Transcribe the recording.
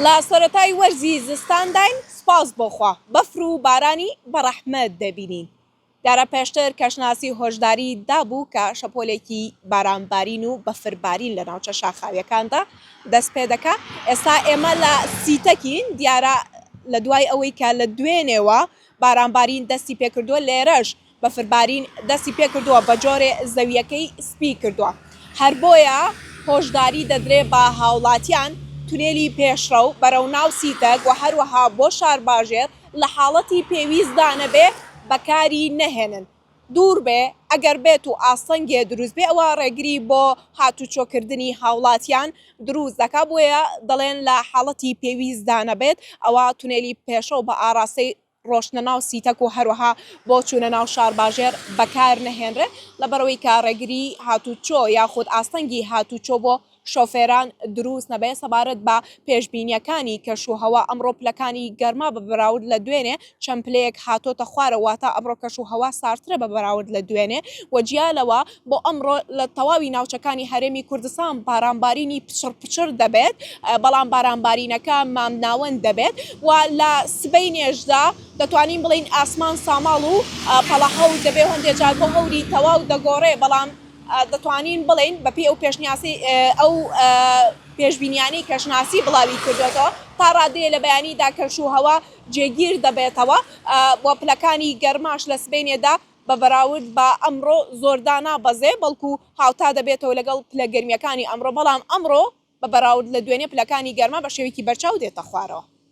لە سەرەتای وەرزی زستانداین، سوپاس بۆ خوا بەفر و بارانی بە ڕەحمەت دەبینین. دیارە پێشتر کەشناسی هۆشداری دابوو کە شەپۆلێکی بارانبارین و بەفربارین لە ناوچە شاخاوییەکاندا دەست پێ دەکا. ئێستا ئێمە لە سیتەکین، دیارە لە دوای ئەوەی کە لە دوێنێوە بارانبارین دەستی پێ کردووە، لێرەش بەفربارین دەستی پێکردووە بە جۆرێ زەوییەکەی سپی کردووە، هەر بۆیە هۆشداری دەدرێ بە هاوڵاتیان تونێلی پێشڕەو بەرەو ناو سیتەک و هەروەها بۆ شارباژێر لە حاڵەتی پێویستدا نەبێ بەکاری نەهێنن دوور بێ ئەگەر بێت و ئاستەنگێ دروست بێ ئەوە ڕێگری بۆ هاتوچۆ کردنی هاوڵاتیان دروست دەکا بۆیە دەڵێن لە حاڵەتی پێویستدا نەبێت ئەوا تونێلی پێشڕەو بە ئاڕاستەی ڕۆشتنە ناو سیتەک و هەروەها بۆ چوونە ناو شارباژێر بەکارنەهێنرێت، لەبەرئەوەی کە ڕێگری هاتووچۆ یاخود ئاستەنگی هاتووچۆ بۆ شۆفێران دروست نەبێت، سەبارەت بە پێشبینییەکانی کەشوهەوا، ئەمڕۆ پلەکانی گەرما بە بەراورد لە دوێنێ چەند پلەیەک هاتۆتە خوارەوە، واتە ئەمڕۆ کەشوهەوا ساردترە بە بەراورد لە دوێنێ و جیا لەوە، بۆ ئەمڕۆ لە تەواوی ناوچەکانی هەرێمی کوردستان بارانبارینی پچڕ پچڕ دەبێت، بەڵام بارانبارینەکە مامناوەند دەبێت و لە سبەینێشدا دەتوانین بڵێین ئاسمان ساماڵ و پەڵە هەور دەبێت، هەندێک جار بۆ هەوری تەواو دەگۆڕێت، بەڵام دەتوانین بڵێین بەپێی ئەو پێشنیازەی ئەو پێشبینیانەی کەشناسی بڵاوی کردوێتەوە تا ڕادەیە لە بەیانیدا کەش و هەوا جێگیر دەبێتەوە و پلەکانی گەرماش لە سبەینێدا بە بەراورد بە ئەمڕۆ زۆر دانابەزێ، بەڵکو هاوتا دەبێتەوە لەگەڵ پلە گەرمییەکانی ئەمڕۆ، بەڵام ئەمڕۆ بە بەراورد لە دوێنێ پلەکانی گەرما بە شێوەیەکی بەرچاو دێتە خوارەوە.